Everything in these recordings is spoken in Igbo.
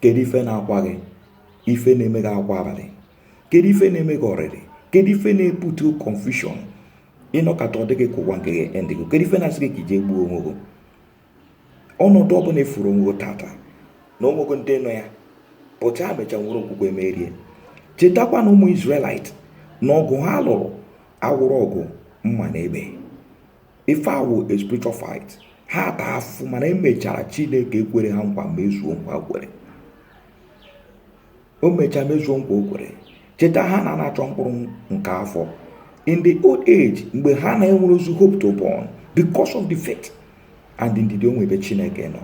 kedu ife na-akwa gị ife na-eme gị akwa abalị kedu ife na-eme gị ọrịrị kedu ife na-ebute confusion ị nọkata ọ dị gị ka ụwa nke gị ndị gị kedu ife na-asị gị ka i je gbuo onwe gị ọnọdụ ọbụla ị fụrụ onwe gị tata na o nwego ndị nọ ya pụta mecha nwere okwukwe merie chetakwa na ụmụ Israelite na ọgụ ha lụrụ awụrọ ọgụ mma na egbe ife ọ wụ a spiritual fight ha taa afụfụ mana emechara chineke kwere ha nkwa mezuo nkwa o kwere o mechaa mezuo nkwa o kwere cheta Hannah na-achọ mkpụrụ nke afọ in the old age mgbe ha na-enwerọzị hope to born because of the faith and ndidi o nwere ebe chineke nọ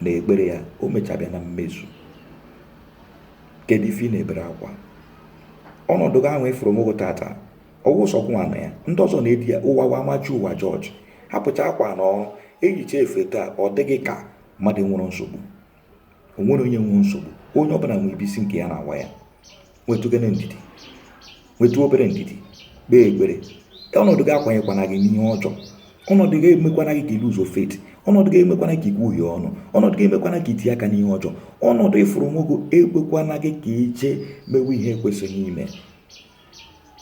na ekpere ya o mechaa bịa na mmezu kedu ife ị na-ebere akwa ọnọdụ gị ahụ ị fụrụ onwe gị tata ọ wụ sọ gị nwa nọ ya ndị ọzọ na-edi ya ụwa wa amachi ụwa jọji hapụcha akwa na ọrụ eyicha efe taa ọ dị gị ka mmadụ enwerọ nsogbu o nwerọ onye enwerọ nsogbu onye ọbụla nwere ebe isi nke ya na-awa ya nwetụgene ndidi nwetụ obere ndidi kpee ekpere ọnọdụ gị akwanyekwana gị n'ihe ọjọọ ọnọdụ gị emekwana gị ka i luzuo faith ọnọdụ gị emekwana ka i kwuhie ọnụ ọnọdụ gị emekwana ka i tinye aka n'ihe ọjọọ ọnọdụ ị fụrụ onwe gị ekwekwana gị ka i je mewe ihe ekwesịghị ime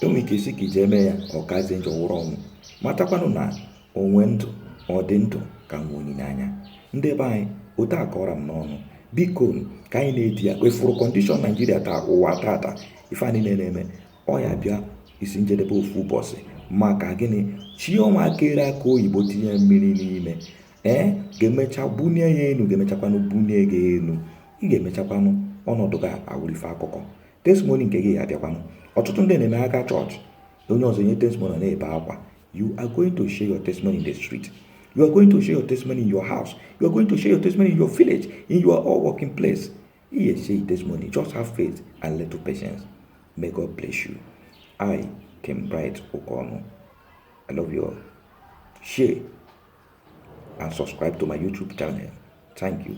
i nwere ike ị sị ka i je eme ya ọ kazie njọ wụrụ ọnwụ matakwanụ na o nwe ndụ ọ dị ndụ ka nwe olileanya ndị be anyị okwu akọrọ m n'ọnụ biko ka anyị na-edi ya kwefụrụ condition Nigeria taa ụwa tata ife anyị na-eme ọ ya-abịa isi njedebe ofu ụbọchị maka gịnị chi ọma kere akị oyibo tinye mmiri n'ime ya ga-emecha bunie ya elu ga-emechakwanụ bunie gị elu ị ga-emechakwanụ ọnọdụ gị awụlụ ife akụkọ testimony nke gị abịakwanụ ọtụtụ ndị na-eme aga chọọchị onye ọzọ nye testimony na-ebe akwa you are going to share your testimony in the street you are going to share your testimony in your house you are going to share your testimony in your village in your all working place ihe share your testimony just have faith and little patience may God bless you I King Bright Okono I love you all share and subscribe to my YouTube channel thank you